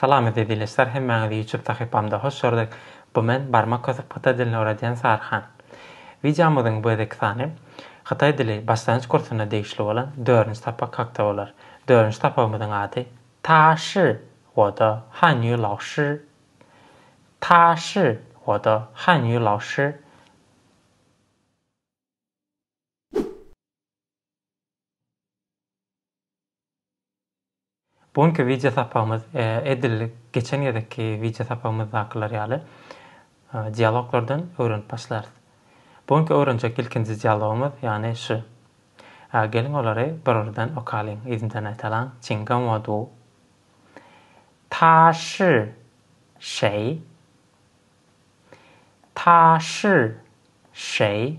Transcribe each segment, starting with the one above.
Salam eziz ildeşler hemmäňizi ýutup sahypamda hoş gördik bu men barmak kösüp hytaý dilini öwredýän saryhan. Wideomyzyň bu gezeki sany Hytaý dili başlangyç kursuna degişli bolan dördünji sapak hakda bolar. Dördünji sapagymyzyň ady Ta shi wo de han yu lao shi Ta shi wo de han yu lao shi. Bu günki wideo sapagymyz edil geçen gezekki wideo sapagymyzdakylar ýaly dialoglardan öwrenip başlarys. Bu günki öwrenjek ilkinji dialogymyz ýagny şu. Geliň olary bir-birden okalyň, yzymdan aýtalyň. Çiň gan wo du. Ta shi şeý. Ta shi şeý.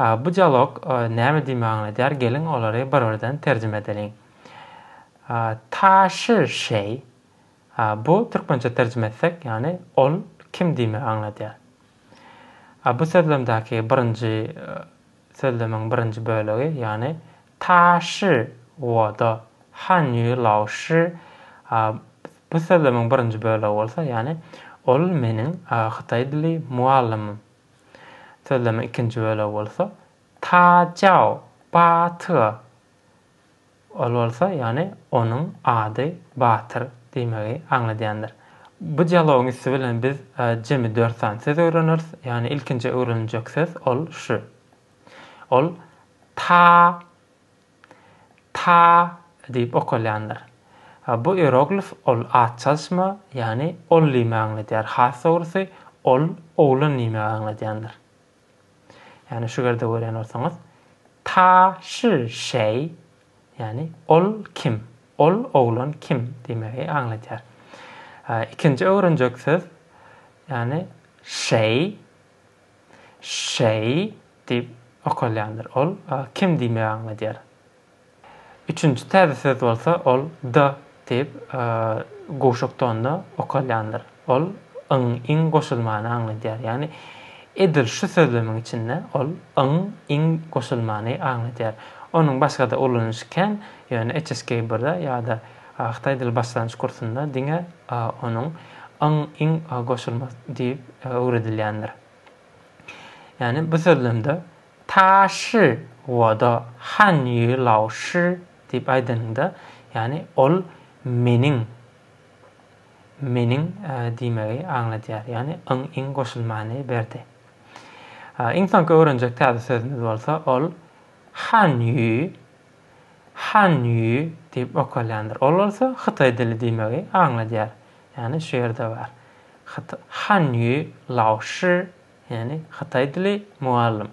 Bu dialog näme diýmegi aňladýar? Geliň, olary bir-birden terjime edeliň. Taşy şeý, bu türkmençe terjime etsek, ýagny ol kim diýmegi aňladýar. Bu sözlemdäki birinji sözlemiň birinji bölegi, ýagny taşy woda, han ýu lao shi, bu sözlemiň birinji bölegi bolsa, ýagny ol meniň hytaý dili mugallymym. Sözlemiň ikinji bölegi bolsa, Ta Jao, Ba Tyga. Ol bolsa, ýagny onuň ady batyr diýmegi aňladýandyr. Bu dialogyň üsti bilen biz jemi dört sany söz öwreneris, ýagny ilkinji öwreniljek söz ol şu. Ol Ta. Ta diýip okalýandyr. Bu ieroglif ol at çalyşma, ýagny ol diýmegi aňladýar. Has dogrusy, ol oglan diýmegi aňladýandyr. Ýagny şu ýerde görýän bolsaňyz, Ta şi şeý, ýagny ol kim, ol oglan kim diýmegi aňladýar. Ikinji öwrenjek söz, ýagny şeý. Şeý, diýip okalýandyr. Ol kim diýmegi aňladýar. Üçünji täze söz bolsa, ol D, diýip, gowşak tonda okalýandyr. Ol yň, iň goşulmany aňladýar. Ýagny, edil şu sözlemiň içinde ol yň, iň goşulmany aňladýar. Onuň başga-da ulanyşy kän, ýöne HSK-birde ýa-da. Ak taýdyl başlangyç kursunda diňe onuň yň, iň goşulmaz diýip öwredilýändir. Ýagny bu sözlemde ta shi wo de han ýu lao shi diýip aýdanyňda, ýagny ol meniň, meniň diýmegi aňladýar. Ýagny yň, iň goşulmany berdi. Iň soňky öwrenjek täze sözümiz bolsa ol han ýu Han Ýu diýip okalýandyr. Ol bolsa hytaý dili diýmegi aňladýar. Ýagny şu ýerde bar. Han Ýu Lao Shi, ýagny hytaý dili mugallym.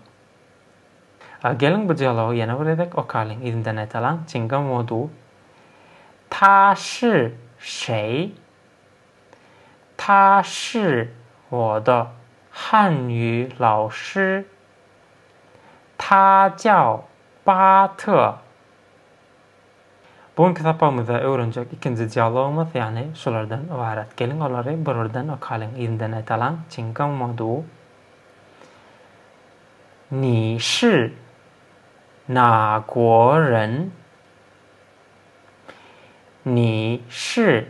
A geliň bu dialogy ýene bir gezek okalyň, yzyndan aýdalaň, Çinga Mo Du, Ta Shi Şeý, Ta Shi Wo Da, Han Ýu Lao Shi, Ta jiao, ba te. Bu günki sapagymyzda öwrenjek ikinji dialogymyz ýagny şulardan ybarat. Geliň olary bir birden okalyň, yzyndan aýdalyň. Çyn gao mo du. Ni shi na guo ren? Ni shi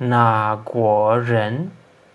na guo ren?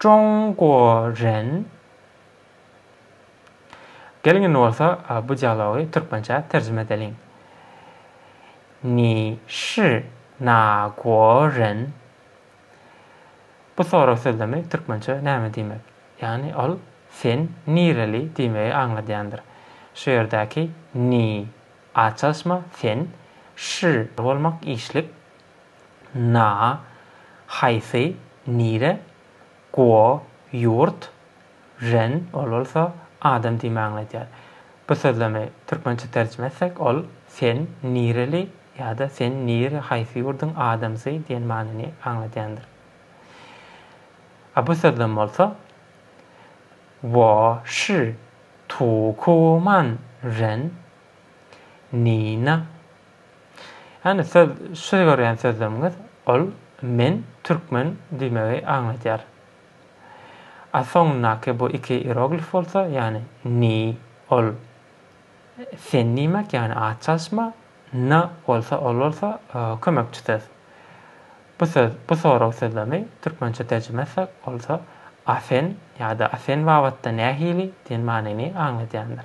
Jongwo Ren Geliň indi bolsa bu dialogy türkmençä terjime edeliň. Ni şi na guo ren? Bu sorag sözlemi türkmençe näme diýmek? Ýagny ol sen nireli diýmegi aňladýandyr. Şu ýerdäki ni, a çalyşma, sen, şi, bolmak işlik, Na, haýsy, nire, guo, ýurt, ren, ol bolsa adam diýme aňladýar. Bu sözlemi türkmençe terjime etsek, ol sen nireli ýa-da sen nire, haýsy ýurduň adamsy diýen manyny aňladýandyr. A bu sözlem bolsa, Wo shi Tukuman ren, Nina. Ýani söz şu görýän sözleriňiz ol men türkmen diýmegi aňladýar. A soňundaky bu iki ieroglif bolsa ýani ni ol sen diýmek ýani at çalyşma na bolsa ol bolsa kömekçi söz. Bu söz bu sorag sözlemi türkmençe terjime etsek bolsa a sen ýada a sen babatda nähili diýen manyny aňladýandyr.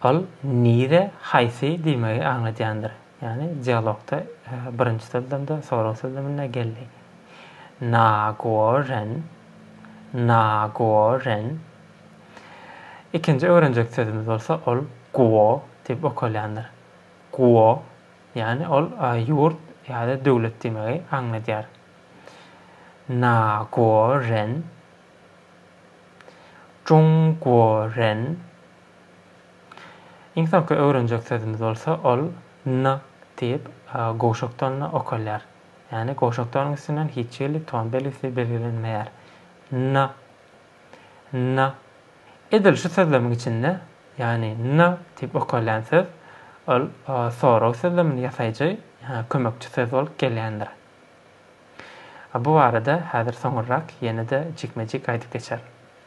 Ol nire, haýsy diýmegi aňladýandyr. Ýagny dialogda birinji sözlemde, sorag sözleminde geldi. Nagoren, nagoren. Ikinji öwrenjek sözümiz bolsa ol guo diýip okalýandyr. Guo, ýagny ol ýurt ýa-da döwlet diýmegi aňladýar. Nagoren, Jungworen. Iň soňky öwrenjek sözümiz bolsa ol n diýip gowşakdonda okalýar. Ýagny gowşakdonyň üstünden hiç hili ton belgisi belgilenmeýär. N. N. Edil şu sözlemiň içinde, ýagny n diýip okalýan söz, ol sorag sözlemini ýasaýjy, ýa kömekçi söz bolup gelýändir. Bu barada häzir soňurrak ýene-de jikme-jik aýdyp geçerin.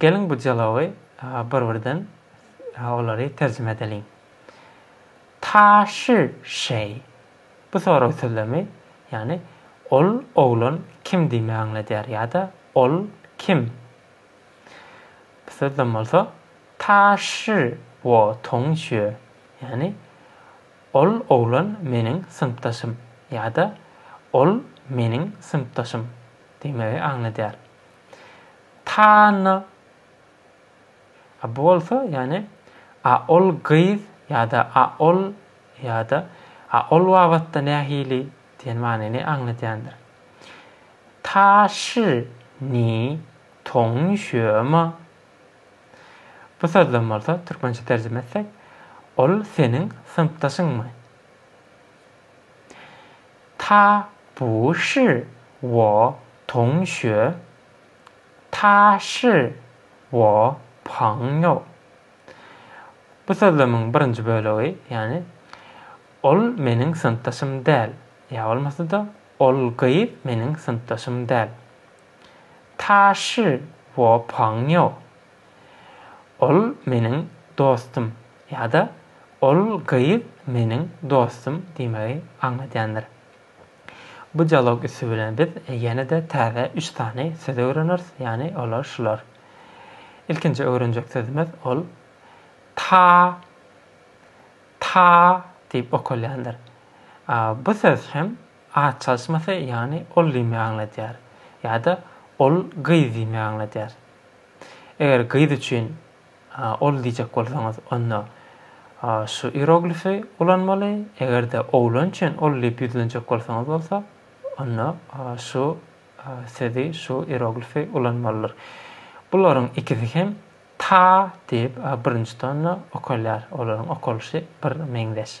Geliň bu dialogy bir-birden olary terjime edeliň. Ta şi şeý. Bu sorag sözlemi, ýagny ol oglan kim diýmegi aňladýar ýa-da ol kim? Bu sözlem bolsa, Ta şi wo tong xue, ýagny Ol oglan meniň synpdaşym ýa-da Ol meniň synpdaşym diýmegi aňladýar. Tana A bu bolsa, ýagny A ol gyz ýa-da A ol ýa-da A ol babatda nähili diýen manyny aňladýandyr. Ta shi ni tong xue ma Bu sözden bolsa türkmençe terjime etsek, ol seniň synpdaşyňmy? Ta bu shi wo tong xue, ta shi wo pang you. Bu sözlemiň birinji bölegi, ýagny, Ol meniň synpdaşym däl, ýa bolmasa-da, Ol gyz meniň synpdaşym däl. Taşy wo pang niao. Ol meniň dostum ýa-da Ol gyz meniň dostum diýmegi aňladýandyr. Bu dialog üsti bilen biz ýene-de täze üç sany söz öwreneris, ýagny olar şular. Ilkinji öwrenjek sözümiz ol ta, ta diýip okalýandyr. Bu söz hem At çalyşmasy ýagny ol diýmegi aňladýar ýa-da ol gyz diýmegi aňladýar. Eger gyz üçin ol diýjek bolsaňyz, onda şu ieroglifi ulanmaly, eger-de oglan üçin ol diýip ýüzlenjek bolsaňyz bolsa, onda şu sözi, şu ieroglifi ulanmalydyr. Bularyň ikisi hem ta diýip birinji tonda okalýar, olaryň okalyşy bir meňzeş.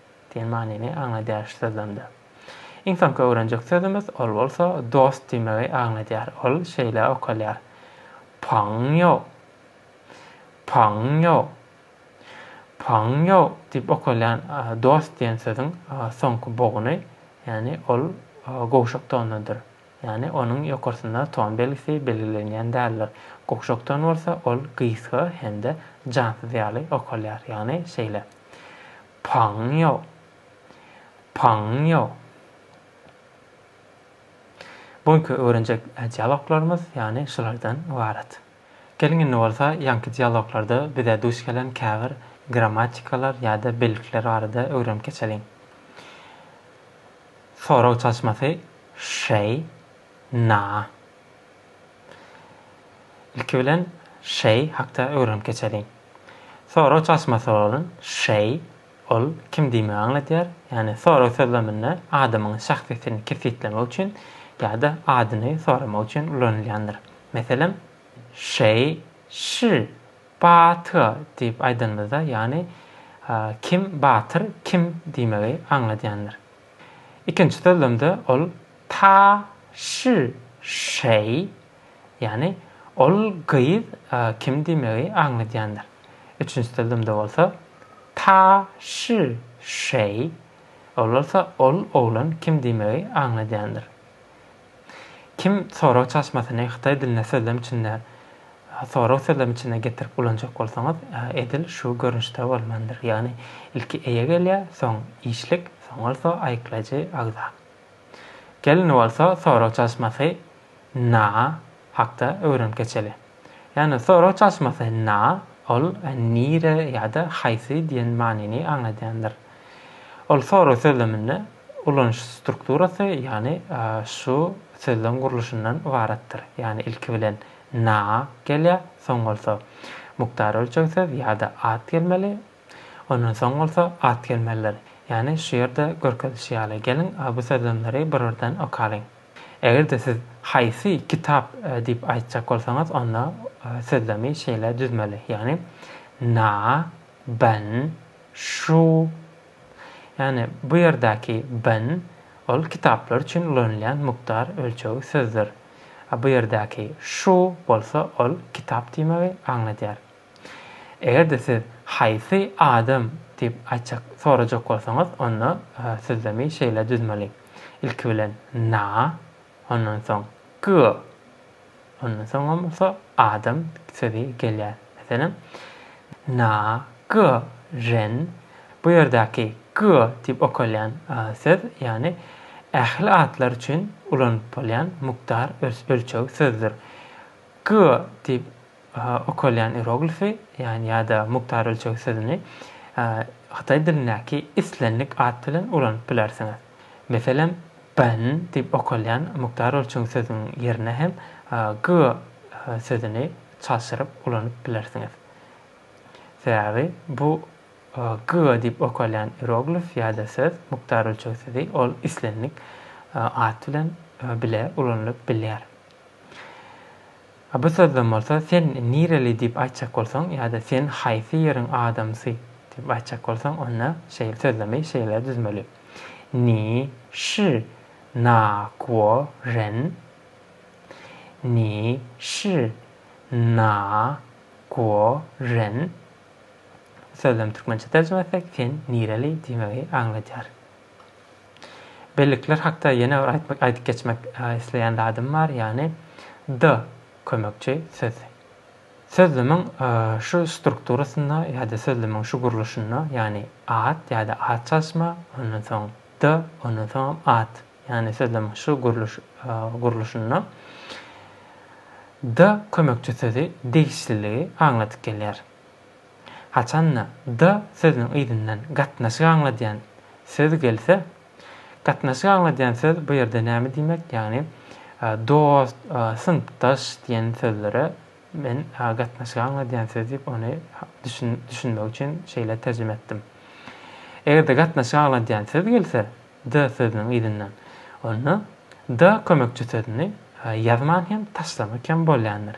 Diýen manyny aňladýar sözlemde. Iň soňky öwrenjek sözümiz, ol bolsa dost diýmegi aňladýar. Ol şeýle okalýar, Pangýo. Pangýo. Pangýo diýip okalýan dost diýen sözüň soňky boguny, ýagny ol gowşak tondadyr. Ýagny onuň ýokarsynda ton belgisi belgilenýän däldir. Gowşak ton bolsa ol gysga hem-de jansyz ýaly okalýar. Ýagny şeýle. Paňňio, paňňio. Bu günki öwrenjek dialoglarymyz ýagny şulardan ybarat. Geliň indi bolsa ýaňky dialoglarda bize duş gelen käbir grammatikalar ýa-da bellikler barada öwrenip geçeliň. Sorag çalyşmasy Şeý, na, Ilki bilen Şeý hakda öwrenip geçeliň. Sorag çalşyma soralyn, Şeý, ol kim diýmegi aňladýar, ýagny sorag sözleminde adamyň şahsyýetini kesgitlemek üçin ýa-da adyny soramak üçin ulanylýandyr. Meselem, Şeý, şi, ba, ty diýip aýdanymyzda, ýagny kim batyr, kim diýmegi aňladýandyr. Ikinji sözlemde ol ta şi şeý, ýagny ol gyz kim diýmegi aňladýandyr. Üçünji sözlemde bolsa ta şi şeý, ol bolsa ol oglan kim diýmegi aňladýandyr. Kim sorag çaşmasyny hytaý dilinde sözlem içinde sorag sözlem içinde getirip ulanjak bolsaňyz, edil şu görnüşde bolmalydyr. Ýagny ilki eýe gelýär, soň işlik, soň bolsa aýyklaýjy agza. Gelin bolsa sorag çaşmasy, na, hakda öwrenip geçeli. Ýagny sorag çalşmasy na, ol nire ýa-da haýsy diýen manyny aňladýandyr. Ol sorag sözleminde ulanyş strukturasy, ýagny şu sözlem gurluşyndan ybaratdyr. Ýagny ilki bilen na gelýär, soň bolsa mukdar ölçeg söz ýa-da at gelmeli, ondan soň bolsa at gelmelidir. Ýagny şu ýerde görkezilişi ýaly. Geliň, bu sözlemleri bir-birden okalyň. Eger-de siz haýsy kitap diýip aýtjak bolsaňyz, onda sözlemi şeýle düzmeli, ýagny na, ben, şu. Ýagny bu ýerdäki ben, ol kitaplar üçin ulanylýan mukdar ölçegi sözdür. A bu ýerdäki şu bolsa ol kitap diýmegi aňladýar. Eger-de siz Haýsy adam? diýip aýtjak, sorajak bolsaňyz, onda sözlemi şeýle düzmeli, Ilki bilen Na, ondan soň Gy, ondan soňam bolsa adam sözi gelýär. Meselem, Na gy ren, bu ýerdäki gy diýip okalýan söz, ýagny ähli atlar üçin ulanyp bolýan mukdar, ölçeg sözdür. Gy diýip Okalýan ieroglifi, ýany ýa-da mukdar ölçeg sözüni hytaý dilindäki islendik at bilen ulanyp bilersiňiz. Meselem, ben diýip okalýan mukdar ölçeg sözüniň ýerine hem ge sözüni çalşyryp ulanyp bilersiňiz. Sebäbi bu ge diýip okalýan ieroglif ýa-da söz, mukdar ölçeg sözi, ol islendik at bilen bile ulanylyp bilýär. A bu sözden bolsa sen nireli diýip aýtjak bolsaň ýa-da sen haýsy ýeriň adamsy diýip aýtjak bolsaň onda şeýle sözlemi şeýle düzmeli, Ni şi na guo ren? Ni şi na guo ren? Bu sözlem türkmençe terjime etsek sen nireli diýmegi aňladýar. Bellikler hakda ýene bir aýtmak aýdyp geçmek isleýän zadym bar, ýagny D kömekçi sözi. Sözlemiň şu strukturasynda ýa-da sözlemiň şu gurluşynda, ýagny at ýa-da at çalyşma, ondan soň D, ondan soňam at, ýagny sözlemiň şu gurluş gurluşynda D kömekçi sözi degişliligi aňladyp gelýär. Haçan-da, da sözüniň yzyndan gatnaşyk aňladýan söz gelse, gatnaşyk aňladýan söz bu ýerde näme diýmek, ýagny, dost, synpdaş diýen sözlere men gatnaşyk aňladýan söz diýip, ony düşünmek üçin şeýle terjime etdim. Eger-de gatnaşyk aňladýan söz gelse, da sözüniň yzyndan, onda, da kömekçi sözüni ýazman hem, taşlamak hem bolýandyr.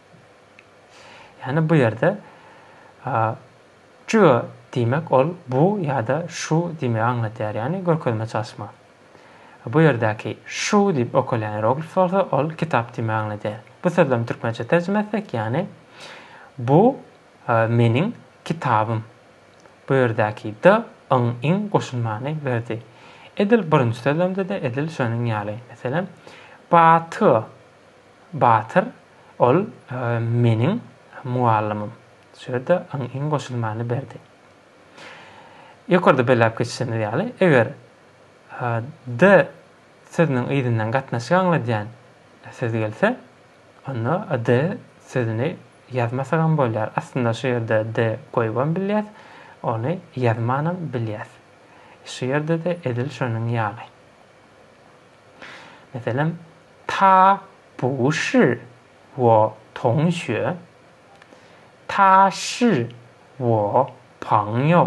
Ýani bu ýerde çüe diýmek ol bu ýa-da şu diýmegi aňladýar, ýani görkezme çalşma. Bu ýerdäki şu diýip okalýan ieroglif bolsa ol kitap diýmegi aňladýar. Bu sözlemi türkmençe terjime etsek ýani bu meniň kitabym. Bu ýerdäki d, yň, iň goşulmany berdi. Edil birinji sözlemde-de edil şonuň ýaly. Meselem, Batyr. Batyr, Ol meniň mugallymym. Şurada yň-yň goşulmany berdi. Ýokarda belläp geçişimiz ýaly, eger D sözüniň yzyndan gatnaşyk aňladýan söz gelse, onda D sözüni ýazmasagam bolýar. Aslynda şu ýerde D goýubam bilýäs, ony ýazmanam bilýäs. Şu ýerde-de edil şonuň ýaly. Meselem, Ta bu shi wo tong xue, ta shi wo pang you.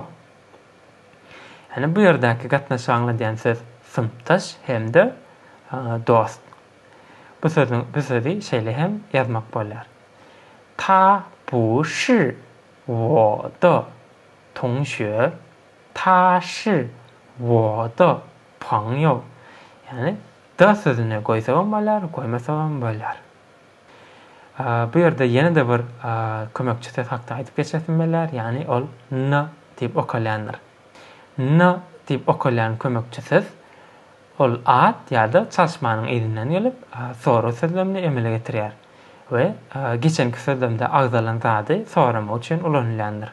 Ýagny bu ýerdäki gatnaşygy aňladýan söz synpdaş hem-de dost. Bu sözi bu sözi şeýle hem ýazmak bolýar. Ta bu shi wo de tong xue Taşy, woda, poňýow, ýagny da sözüni goýsagam bolýar, goýmasagam bolýar. Bu ýerde ýene-de bir kömekçi söz hakda aýdyp geçesim bolýar, ýagny ol na diýip okalýandyr. Na diýip okalýan kömekçi söz, ol at ýa-da çalyşmanyň yzyndan gelip, soraw sözlemini emele getirýär we geçenki sözlemde agzalan zady soramak üçin ulanylýandyr.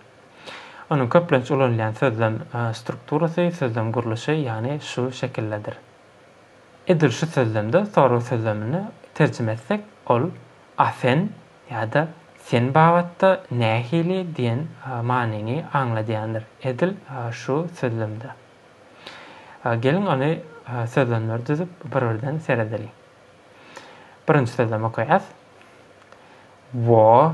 Onuň köplenç ulanylýan sözlem strukturasy, sözlem gurluşy, ýagny şu şekildedir. Edil şu sözlemde sorag sözlemini terjime etsek, ol A sen ýa-da Sen babatda nähili diýen manyny aňladýandyr. Edil şu sözlemde. Geliň ony sözlemleri düzüp bir-birden seredeliň. Birinji sözlemi okaýas. Wo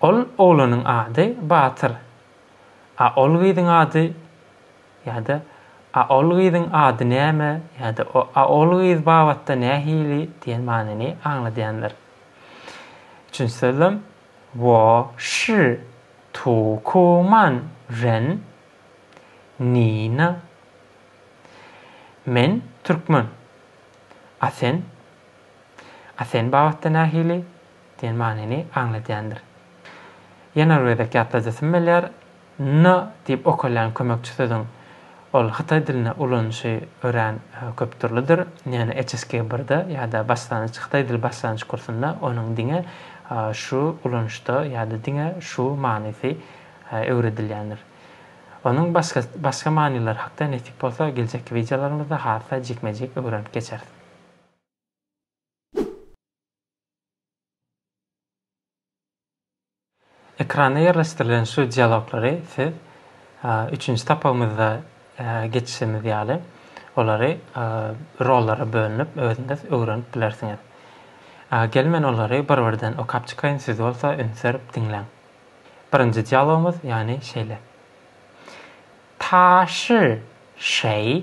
Ol oglanyň ady Batyr. A ol gyzyň ady ýa-da A ol gyzyň ady näme ýa-da A ol gyz babatda nähili diýen manyny aňladýandyr. Üçünji sözlem, Wo şi tu ku man ren ni na. Men türkmen. A sen? A sen babatda nähili? diýen manyny aňladýandyr. Ýene bir gezek ýatladasym gelýär, na diýip okalýan kömekçi sözüň ol hytaý dilinde ulanyşy örän köpdürlidir, ýöne HSK birde ýa-da başlangyç hytaý dili başlangyç kursunda onuň diňe şu ulanyşda ýa-da diňe şu manysy öwredilýändir. Onuň başga başga manylary hakda nesip bolsa geljekki wideolarymyzda has-da jikme-jik öwrenip geçeris. Ekrana ýerleşdirilen şu dialoglary siz üçünji sapagymyzda geçişimiz ýaly, olary rollara bölünip özüňiz öwrenip bilersiňiz. Gel men olary bir-birden okap çykaýyn, siz bolsa ünsüerip diňläň. Birinji dialogymyz ýany şeýle. Taşy şeý.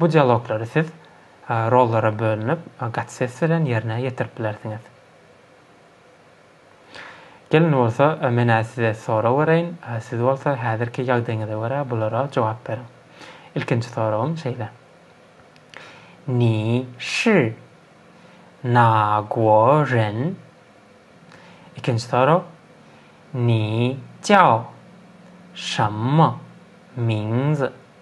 Bu dialoglary siz rollara bölünip, gaty ses bilen ýerine ýetirip bilersiňiz. Gelin bolsa, Men-ä size sorag bereýin, siz bolsa häzirki ýagdaýyňyza görä bulara jogap beriň. Ilkinji soragym şeýle. Ni şi na guo ren? Ikinji sorag. Ni jiao shenme mingzi?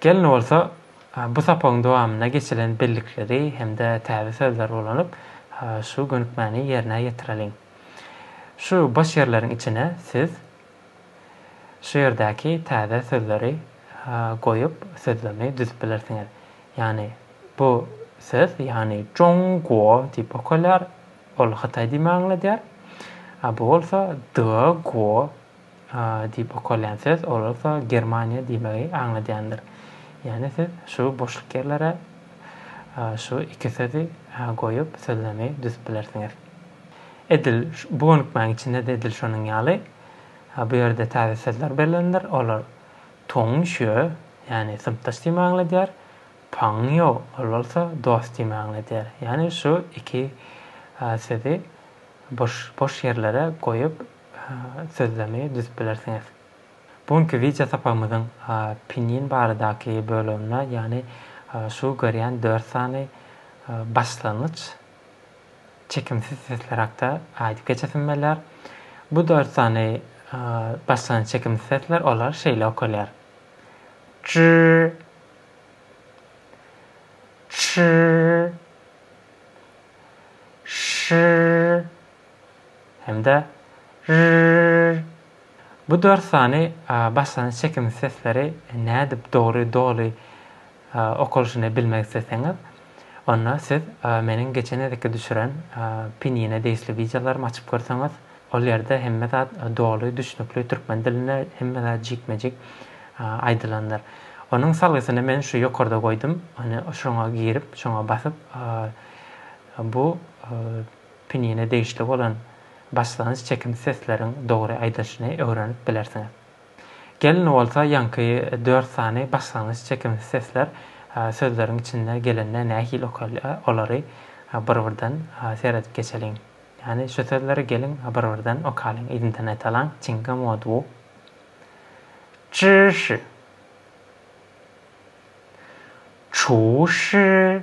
Gelin bolsa bu sapagyň dowamynda geçilen bellikleri hem-de täze sözleri ulanyp, şu gönükmäni ýerine ýetireliň. Şu boş ýerleriň içine siz şu ýerdäki täze sözleri goýup, sözlemi düzüp bilersiňiz. Ýagny bu söz, ýagny Jongguo diýip okalýar, ol Hytaý diýmegi aňladýar. A bu bolsa Deguo. Diýip okalýan söz olsa Germaniýa diýmegi aňladýandyr. Ýagny siz şu boşluk ýerlere şu iki sözi goýup sözlemi düzüp bilersiňiz. Edil bu gönükmäň içinde-de edil şonuň ýaly bu ýerde täze sözler berlendir. Olar Tongşýö, ýagny synpdaş diýmegi aňladýar, Pangýo, ol bolsa dost diýmegi aňladýar. Ýagny şu iki sözi boş boş ýerlere goýup sözlemi düzüp bilersiňiz. Bu günki wideo sapagymyzyň pinyin baradaky böleginde ýagny şu görýän dört sany başlangyç çekimsiz sesler hakda aýdyp geçesim belýär. Bu dört sany başlangyç çekimsiz sesler olar şeýle okalýar. Çy Çy Şy hem-de rrrrrrrr bu dört sany başlanyş çekimsiz sesleri nädip dogry, doly okalyşyny bilmek isleseňiz, onda siz meniň geçen gezekki düşüren Pinýine degişli wideolarymy açyp görseňiz, ol ýerde hemme zat doly, düşnükli türkmen dilinde hemme zat jikme-jik aýdylandyr. Onuň salgysyny men şu ýokarda goýdum, ony şoňa girip, şoňa basyp bu Pinine degişli bolan başlangyç çekimli sesleriň dogry aýdylyşyny öwrenip bilersiňiz. Gelin bolsa ýaňky dört sany başlangyç çekimsiz sesler sözleriň içinde gelende nähili okalýa olary bir-birden seredip geçeliň. Ýani şu sözleri geliň bir-birden okalyň yzyndan aýdalaň çiňňe moduo. Çşşy. Çuşşy.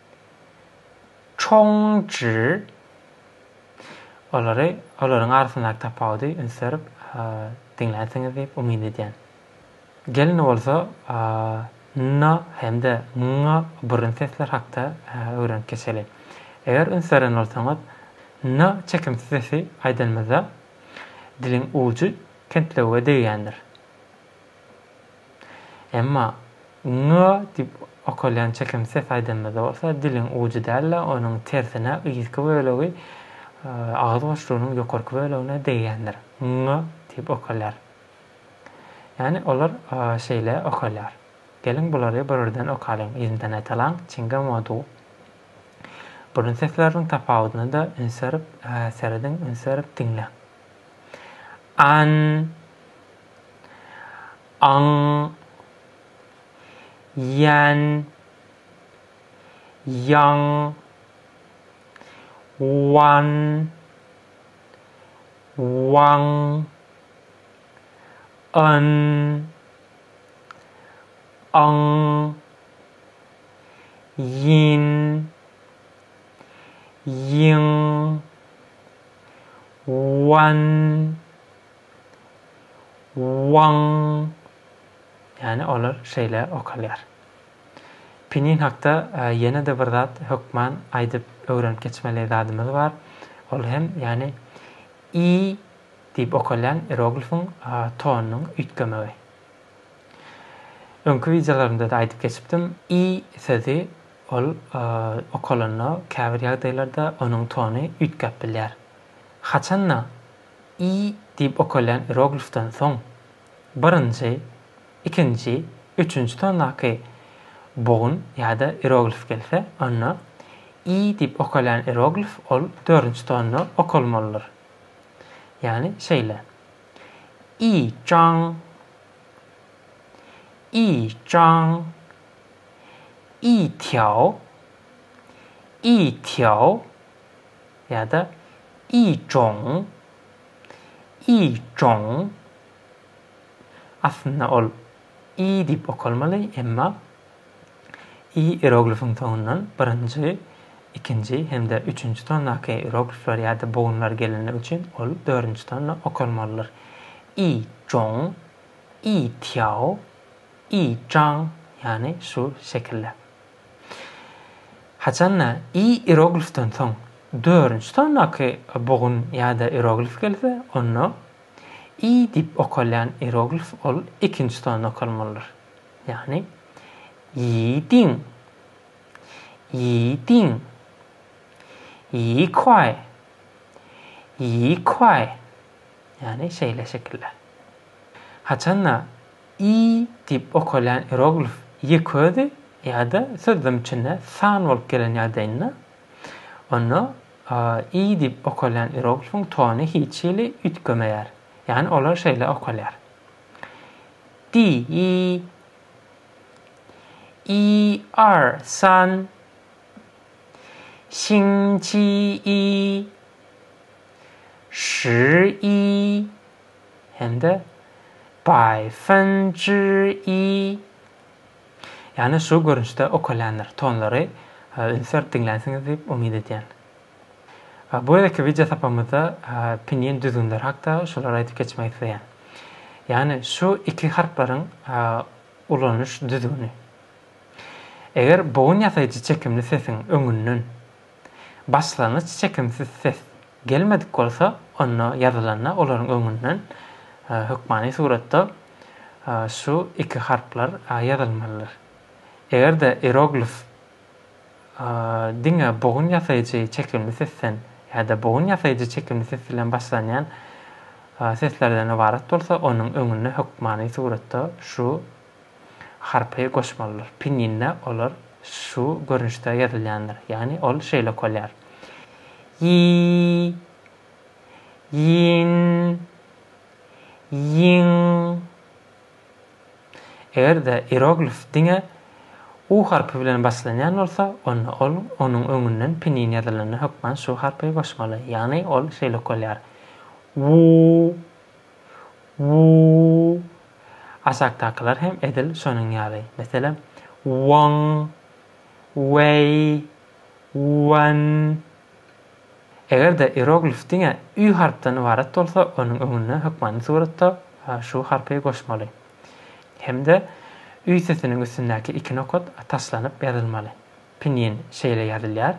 Çongji olary olaryň arasyndaky tapawudy üns berip diňlänsiňiz diýip umyt edýän. Gelin bolsa n hem-de ň burun sesler hakda öwrenip geçeli. Eger üns beren bolsaňyz n çekimsiz sesi aýdanymyzda diliň ujy kentlewüge degýändir. Emma ňňö diýip okalýan çekim ses aýdymyzda bolsa diliň ujy däl-de, onuň tersine yzky bölegi agyz boşlugynyň ýokarky bölegine degýändir. Ňňö diýip okalýar. Ýagny olar şeýle okalýar. Geliň bulary bir-birden okalyň, ýerinden aýdalaň, çinga mo du. Burun sesleriniň tapawudyna-da üns berip serediň, üns berip diňläň. An. aň, ýän, ýaň, wan, waň, yn, yň, ýyn, ýyň, wan, Waň! Ýani olar şeýle okalýar. Pinin hakda ýene-de bir zat hökman aýdyp öwrenip geçmeli zadymyz bar. Ol hem ýani i diýip okalýan ieroglifiň tonunyň üýtgemegi. Öňki wideolarymda-da aýdyp geçipdim, i sözi ol okalanda käbir ýagdaýlarda onuň tony üýtgäp bilýär. Haçan-da I diýip okalýan ieroglifden soň, birinji, ikinji, üçünji tondaky bogun ýa-da ieroglif gelse, onda I diýip okalýan ieroglif ol dördünji tonda okalmalydyr. Ýagny şeýle, I jang, I jang, I tiao, I tiao. ýa-da i joň, i joň. Aslynda ol i diýip okalmaly, emma i iroglifiň soňundan birinji, ikinji hem-de üçünji tondaky iroglifler ýa-da bogunlar gelenligi üçin ol dördünji tonda okalmalydyr. I joň, i týao, i jaň, ýagny şu şekilde. Haçan-da, i ieroglifden soň dördünji sondaky bugun ýa-da ieroglif gelse, onda i diýip okalýan ieroglif ol ikinji sonda okalmalydyr. Ýagny, ýiýdiň, ýiýdiň, ýiýkwaý, ýiýkwaý, ýagny şeýle şekiller. Haçan-da, Y diýip okalýan ieroglif ýeközi ýa-da sözlem içinde san bolup gelen ýagdaýynda, onda y diýip okalýan ieroglifiň tony hiç hili üýtgemeýär. Ýagny olar şeýle okalýar. Di, y, i, ar, san, şin, çi, i, şi, i, hem-de Baý Fen Ji Yi, ýagny şu görnüşde okalýandyr, tonlary üns berip diňlänsiňiz diýip umyt edýän. Bu gezekki wideo sapamyzda pinyin düzgünleri hakda şulary aýdyp geçmek isleýän. Ýagny şu iki harplaryň ulanyş düzgüni. Eger bogun ýasaýjy çekimli sesiň öňünden Başlangyç çekimsiz ses gelmedik bolsa, onda ýazylanda olaryň öňünden hökmany suratda şu iki harplar ýazylmalydyr. Eger-de ieroglif diňe bogun ýasaýjy çekimli sesden ýa-da bogun ýasaýjy çekimli ses bilen başlanýan seslerden ybarat bolsa, onuň öňünde hökmany suratda şu harpy goşmalydyr. Pinýinde olar şu görnüşde ýazylýandyr. Ýagny ol şeýle okalýar. Ýi, ýin, ýiň. Eger-de ieroglif diňe u harpy bilen başlanýan bolsa, onda ol onuň öňünden pinýin ýazylanda hökman şu harpy goşmaly. Ýagny ol şeýle okalýar. Wu, Wuu. Aşakdakylar hem edil şonuň ýaly. Meselem, Won, Weý, Wan. Eger-de ieroglif diňe ü harpdan ybarat bolsa, onuň öňüne hökmany suratda şu harpy goşmaly. Hem-de ü sesiniň üstündäki iki nokat taşlanyp ýazylmaly. Pinyin şeýle ýazylýar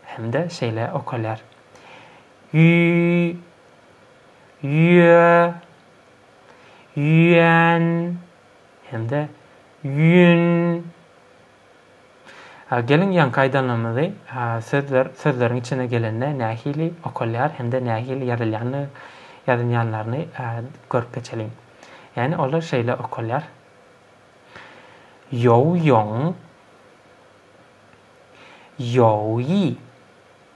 hem-de şeýle okalýar. Ýüý. ýüýe, ýüýän hem-de ýüýün. Geliň ýaňky aýdanlarymyzy sözler sözleriň içine gelende nähili okalýar hem-de nähili ýazylýanyny ýazynýanlaryny görüp geçeliň. Ýani olar şeýle okalýar. Ýow ýoň. Ýow ýi.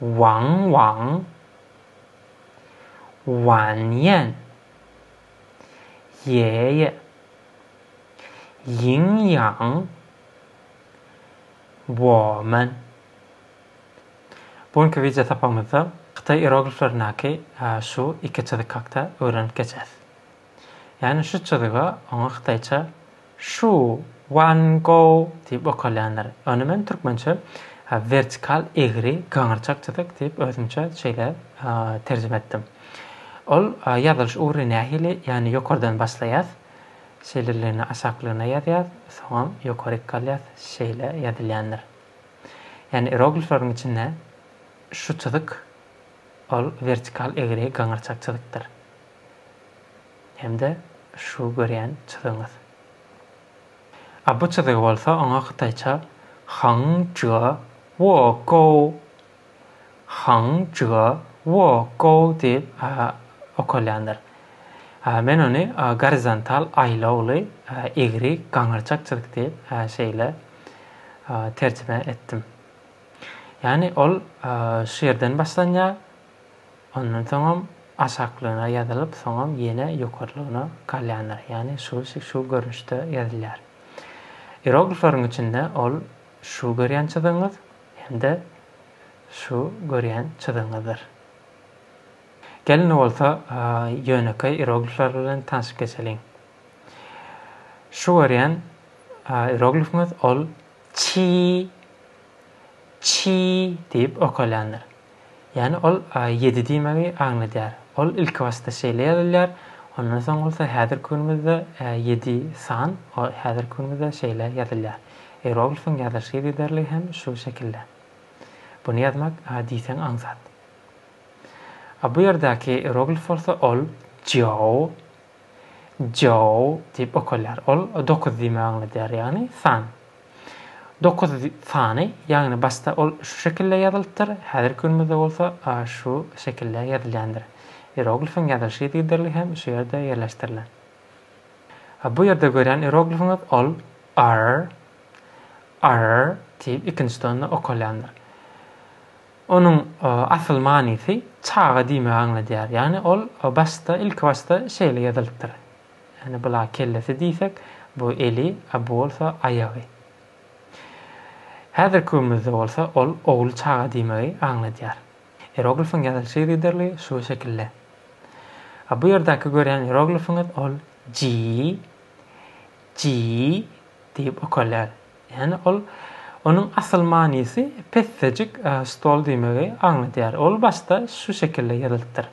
Waň waň Wanýan Ýe ýe Ýiň ýaň Woman Bu günki wideo sapagymyzda hytaý ierogliflerinäki şu iki çyzyk hakda öwrenip geçeris. Ýagny şu çyzyga oňa hytaýça Shu Wan Gou diýip okalýandyr. Ony men türkmençe wertikal egri gyňyrçak çyzyk diýip özümçe şeýle terjime etdim. Ol ýazylyş ugry nähili, ýagny ýokardan başlaýas, şeýleligine aşaklygyna ýazýas, soňam ýokaryk galýas, şeýle ýazylýandyr. Ýagny ieroglifleriň içinde şu çyzyk ol wertikal egri gyňyrçak çyzykdyr. hem-de şu görýän çyzygyňyz. A bu çyzygy bolsa oňa hytaýça Hang Jue Wo Gou, Hang Jue Wo Gou diýip okalýandyr. Men ony gorizontal aýlawly egri gaňyrçak çyzyk diýip şeýle terjime etdim. Ýagny ol şu ýerden başlanýar, Ondan soňam aşaklygyna ýazylyp, soňam ýene ýokarlygyna galýandyr. Ýagny şu şu görnüşde ýazylýar. Ieroglifleriň içinde ol şu görýän çyzygyňyz hem-de şu görýän çyzygyňyzdyr. Gel indi bolsa ýönekeý ieroglifler bilen tanşyp geçeliň. Şu görýän ieroglifiňiz ol Çii, çii diýip ökülýändir. Ýagny ol ýedi diýmegi aňladýar. Ol ilkibasda şeýle ýazylýar, ondan soň bolsa häzirki günümizde ýedi san häzirki günümizde şeýle ýazylýar. Ieroglifyň ýazylyş ýygyderligi hem şu şekilde. Buny ýazmak diýseň aňsat. A bu ýerdäki ieroglif bolsa ol jiao Joe diýip okalýar. Ol dokuz diýmegi aňladýar, ýagny san. Dokuz sany, ýagny başda ol şu şekilde ýazylypdyr, häzirki günümizde bolsa şu şekilde ýazylýandyr. Ieroglifiň ýazylyşy yzygiderli hem şu ýerde ýerleşdirilen. Bu ýerde görýän ieroglifiňiz ol R, Arr diýip ikinji tonda okalýandyr. Onuň asyl manysy çaga diýmegi aňladýar. Ýagny ol başda, ilkibaşda şeýle ýazylypdyr. Ýagny bula kellesi diýsek, bu eli, a bu bolsa aýagy. Häzirki günümizde bolsa ol ogul çaga diýmegi aňladýar. Ieroglifyň ýazylyşy yzygiderli şu şekilde. A bu ýerdäki görýän ieroglifiňiz ol ji, ji diýip okalýar. Ýagny ol onuň asyl manysy pessejik stol diýmegi aňladýar. Ol başda şu şekilde ýazylypdyr.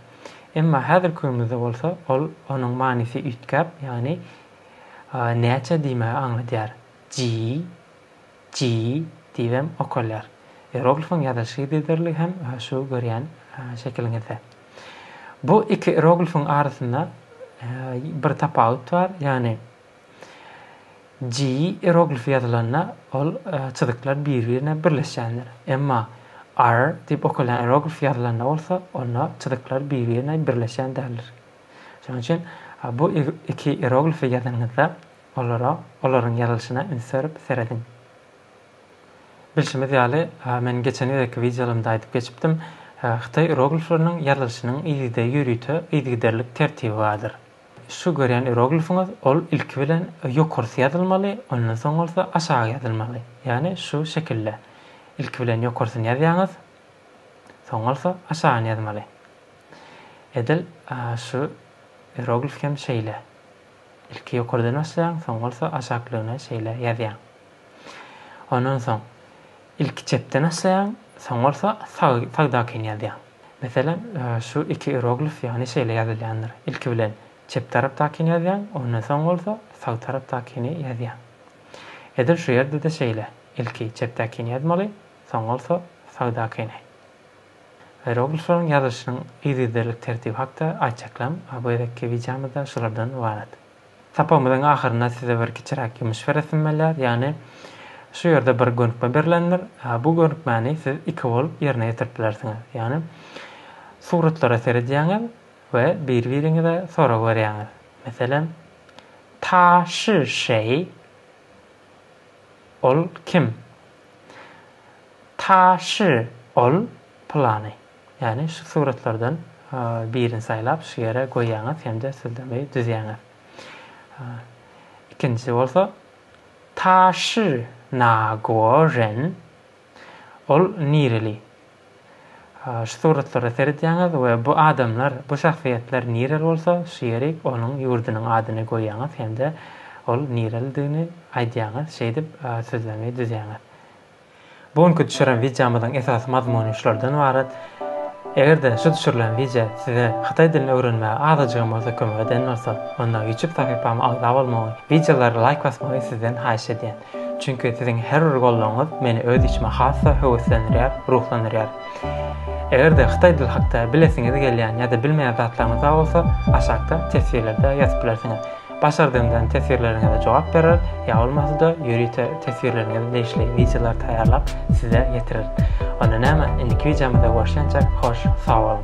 Emma häzirki günümizde bolsa ol onuň manysy üýtgäp, ýagny näçe diýmegi aňladýar. Ji, ji diýibem okalýar. Ieroglifiň ýazylyş yzydyrlygy hem şu görýän şekiliňizde. Bu iki ieroglifiň arasynda bir tapawut bar, ýagny Ji ieroglifi ýazylanda, ol çyzyklar bir-birine birleşýändir. Emma R diýip okalýan ieroglif ýazylanda bolsa, onda çyzyklar bir-birine birleşýän däldir. Şonuň üçin bu iki ieroglifi ýazanyňyzda, olara, olaryň ýazylyşyna üns berip serediň. Bilşimiz ýaly, men geçen gezekki wideolarymda aýdyp geçipdim, hytaý ieroglifleriniň ýazylyşynyň yzygiderli ýörite yzygiderlik tertibi bardyr. Şu görýän ieroglifiňiz ol ilki bilen ýokarsy ýazylmaly, ondan soň bolsa aşagy ýazylmaly. Ýagny şu şekilde. Ilki bilen ýokarsyny ýazýaňyz, soň bolsa aşagyny ýazmaly. Edil şu ieroglif hem şeýle. Ilki ýokardan başlaýaň, soň bolsa aşaklygyny şeýle ýazýaň. Ondan soň Ilki çepden açlaýaň, soň bolsa sag sagdakyn ýazýaň. Meselem, şu iki ieroglif ýagny şeýle ýazylýandyr, ilki bilen çep tarapdakyny ýazýaň, ondan soň bolsa sag tarapdakyny ýazýaň. Edil şu ýerde-de şeýle, ilki çepdäkini ýazmaly, soň bolsa sagdakyny. Ieroglifleriň ýazylyşynyň yzygiderlik tertibi hakda aýtjaklam, bu gezekki wideomyzda şulardan ybarat. Sapagymyzyň ahyrynda size bir kiçiräk ýumyş beresim bolýar, ýagny şu ýerde bir gönükme berilendir. Bu gönükmäni siz iki bolup ýerine ýetirip bilersiňiz. Ýagny suratlara seredýäňiz we biri-biriňize sorag berýäňiz. Meselem, Ta shi şeý? Ol kim? Ta shi ol pylany. Ýagny şu suratlardan birini saýlap şu ýere goýýaňyz hem-de syzdymy düzýäňiz. Ikinjisi bolsa Taşy Nagoren ol nireli? Şu suratlara seredýäňiz we bu adamlar, bu şahsyýetler nireli bolsa şu ýeri onuň ýurdunyň adyny goýýaňyz hem-de ol nirelidigini aýdýaňyz şeýdip syzdymy düzýäňiz. Bu günki düşüren wideomyzyň esasy mazmuny şulardan ybarat. Eger-de şu düşürilen wideo size hytaý dilini öwrenmäge azajygam bolsa kömek eden bolsa, onda YouTube sahypama agza bolmagy, wideolara laýk basmagy sizden haýyş edýän. Çünki siziň her bir goldawyňyz meni öz işime has-da höweslendirýär, ruhlandyrýar. Eger-de hytaý dili hakda bilesiňiz gelýän ýa-da bilmeýän zatlaryňyz bar bolsa, aşakda teswirlerde ýazyp bilersiňiz. Başardygyňdan teswirleriňize jogap berer, ýa bolmasa-da ýörite teswirleriňize degişli wideolary taýýarlap size ýetireris. Onda näme, indiki wideomyzda görşençek, hoş, sag boluň!